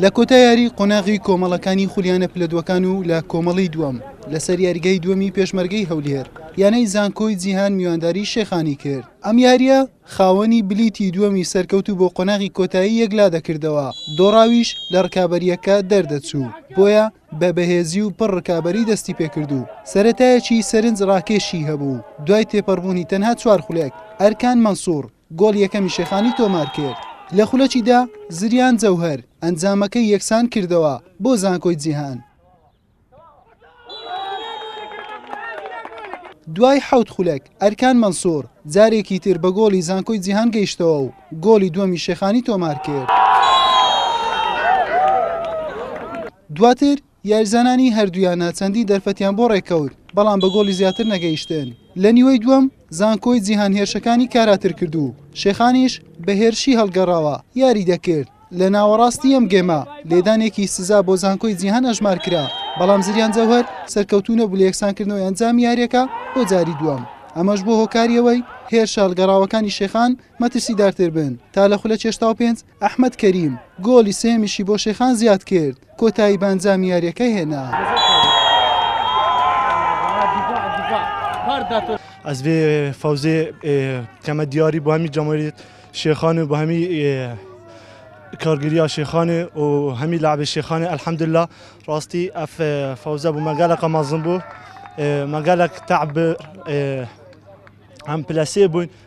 لە کۆتا یاری قۆناغی کۆمەڵەکانی خولیانە پلەدوەکان و لە کۆمەڵی دووەم لەسەر یاریگەی دووەمی پێشمەرگەی هەولێر یانەی زانکۆی جیهان میوانداری شێخانی کرد ئەم یاریە خاوەنی بلیتی دووەمی سەرکەوت و بۆ قۆناغی کۆتایی یەکلا دەکردەوە دۆڕاویش لە ڕکابەریەکە دەردەچوو بۆیە بە بەهێزی و پڕ ڕکابەری دەستی پێکرد و سەتایەکی سەرنج ڕاکێشی هەبوو دوای تێپەڕبوونی تەنها چوار خولێک ئەرکان مەنسوور گۆڵی یەکەمی شێخانی تۆمارکرد لە خولەکی دا، زریان جەوهەر ئەنجامەکەی یەکسان کردەوە بۆ زانکۆی جیهان. دوای حەوت خولەک، ئەرکان مەنسووڕ جارێکی تر بە گۆڵی زانکۆی جیهان گەیشتەوە و گۆڵی دووەمی شێخانی تۆمارکرد. دواتر یاریزانانی هەردوویانە چەندی دەرفەتیان بۆ ڕێککەوت، بەڵام بە گۆڵی زیاتر نەگەیشتن، لە نیوەی دووەم زانکۆی جیهان هێرشەکانی کاراتر کرد و شێخانیش بە هێرشی هەڵگەڕاوە یاری دەکرد، لە ناوەڕاستی ئەم گێمە لێدانێکی سزا بۆ زانکۆی جیهان ئەژمار کرا، بەڵام زریان جەوهەر سەرکەوتوو نەبوو لە یەکسانکردنەوەی ئەنجامی یارییەکە بۆ جاری دووەم، ئەمەش بووە هۆکاری ئەوەی هێرشە هەڵگەڕاوەکانی شێخان مەترسیدارتر بن تا لە خولەکێشتاو پێنج ئەحمەد کەریم گۆڵی سێیەمیشی بۆ شێخان زیاد کرد، کۆتایی بە ئەنجامی یارییەکە هێنا. ئەز ڤێ فەوزێ کەمە دیاری بۆ هەمی جەماوەری شێخان و بۆ هەمی کارگریا شێخانێ و هەمی لاعبێ شێخانێ ئەلحەمدللا ڕاستی ئەف فەوزە بوو مەگەلەکە مەزن بوو مەگەلەک تەعب هەم پلەسێ بووین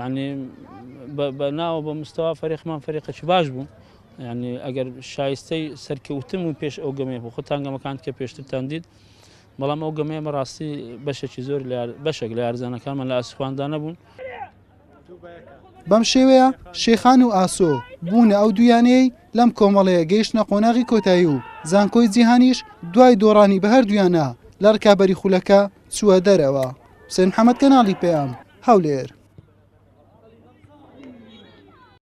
یانی بە ناوە بە مستەوا فەرێقمان فەرێقەکی باش بوو یعنی ئەگەر شایستەی سەرکەوتن و پێش ئەو گەمێ بۆ خۆتان گەمەکان کە پێشترتان دیت بەڵام ئەو گەمەیە بەڕاستی بەشێکی زۆر بەشێک لە یارزانەکانمان لە ئاسوخواندا نەبوون. بەم شێوەیە شێخان و ئاسۆ بوونە ئەو دویانەیەی لەم کۆمەڵەیە گەیشتە قۆناغی کۆتایی و زانکۆی جیهانیش دوای دۆڕانی بە هەردوویانە لە ڕکابەری خولەکە چووە دەرەوە حوسێن محەمەد کەناڵی پەیام هەولێر.